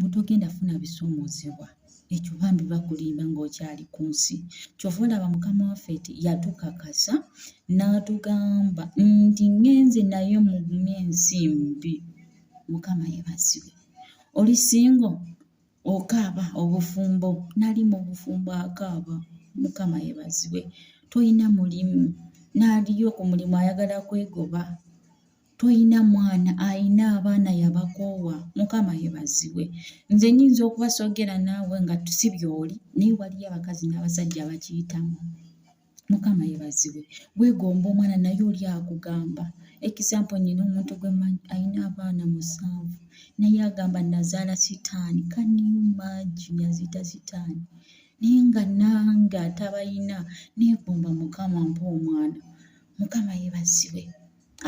butogenda funa bisumuzibwa ekyo bambi bakulimba ng'okyali ku nsi kyova olaba mukama waffe ti yatukakasa n'atugamba nti ngenze naye mugumye ensi mbi mukama yebazibwe oli singo okaaba obufumbo nali mu bufumbo akaaba mukama yebazibwe tolina mulimu n'aliyo ku mulimu ayagala kwegoba toyina mwana ayina abaana yabakoowa mukama yebaziwe nze nyinza okubasogera naawe nga tusi byoli naye waliyo abakazi n'abasajja bakiyitamu mukama yebaziwe wegomba omwana naye oli akugamba ekisampo nyina omuntu gwe ayina abaana musanvu naye agamba nazaala sitaani kanimagi yazita sitaani naye nga nange atabayina negomba mukama mpa omwana mukama yebaziwe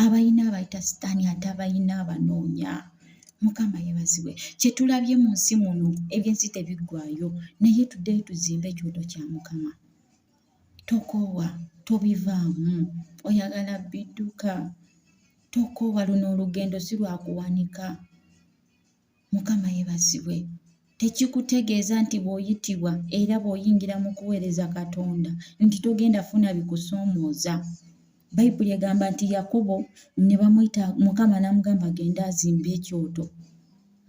abalina abayita sitaani ate abalina abanoonya mukama yebazibwe kyetulabye mu nsi muno ebyensi tebiggwayo naye tuddeyo tuzimbe ekyoto kya mukama tokoowa tobivaamu oyagala bidduka tokoowa luno olugendo si lwakuwanika Mukama yebazibwe. Tekikutegeeza nti bw'oyitibwa era bw'oyingira mu kuweereza Katonda nti togenda funa bikusoomooza. Bayibuli egamba nti Yakobo ne bamuyita Mukama n'amugamba agende azimbe ekyoto.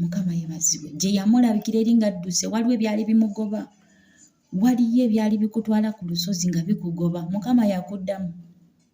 Mukama yebazibwe. Gye yamulabikira eri ng'adduse waliwo ebyali bimugoba. Waliyo ebyali bikutwala ku lusozi nga bikugoba. Mukama yakuddamu.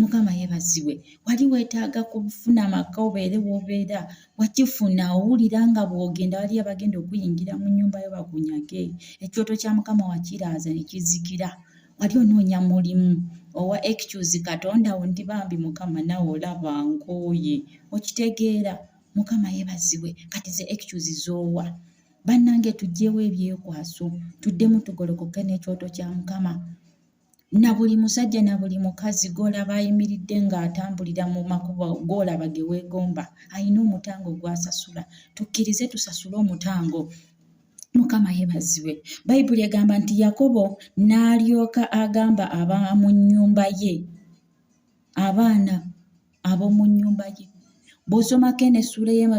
mukama yebazibwe wali wetaaga kufuna amaka obeere wobeera wakifuna owulira nga bwogenda waliyo abagenda okuyingira mu nyumba yo bakunyage ekyoto kya mukama wakiraaza nekizikira wali onoonya mulimu owa ekicuzi katonda wo ndi bambi mukama nawe olaba nkooye okitegeera mukama yebazibwe kati ze ekicuzi zoowa bannange tugyewo ebyekwaso tuddemu tugolokoke n'ekyoto kya mukama na buli musajja na buli mukazi gw'olaba ayimiridde ng'atambulira mu makubo gw'olaba ge weegomba alina omutango gw'asasula tukkirize tusasule omutango mukama yeebazibwe bayibuli egamba nti yakobo n'alyoka agamba ab'omu nnyumba ye abaana ab'omu nnyumba ye bw'osomako eno essuula ey'emabega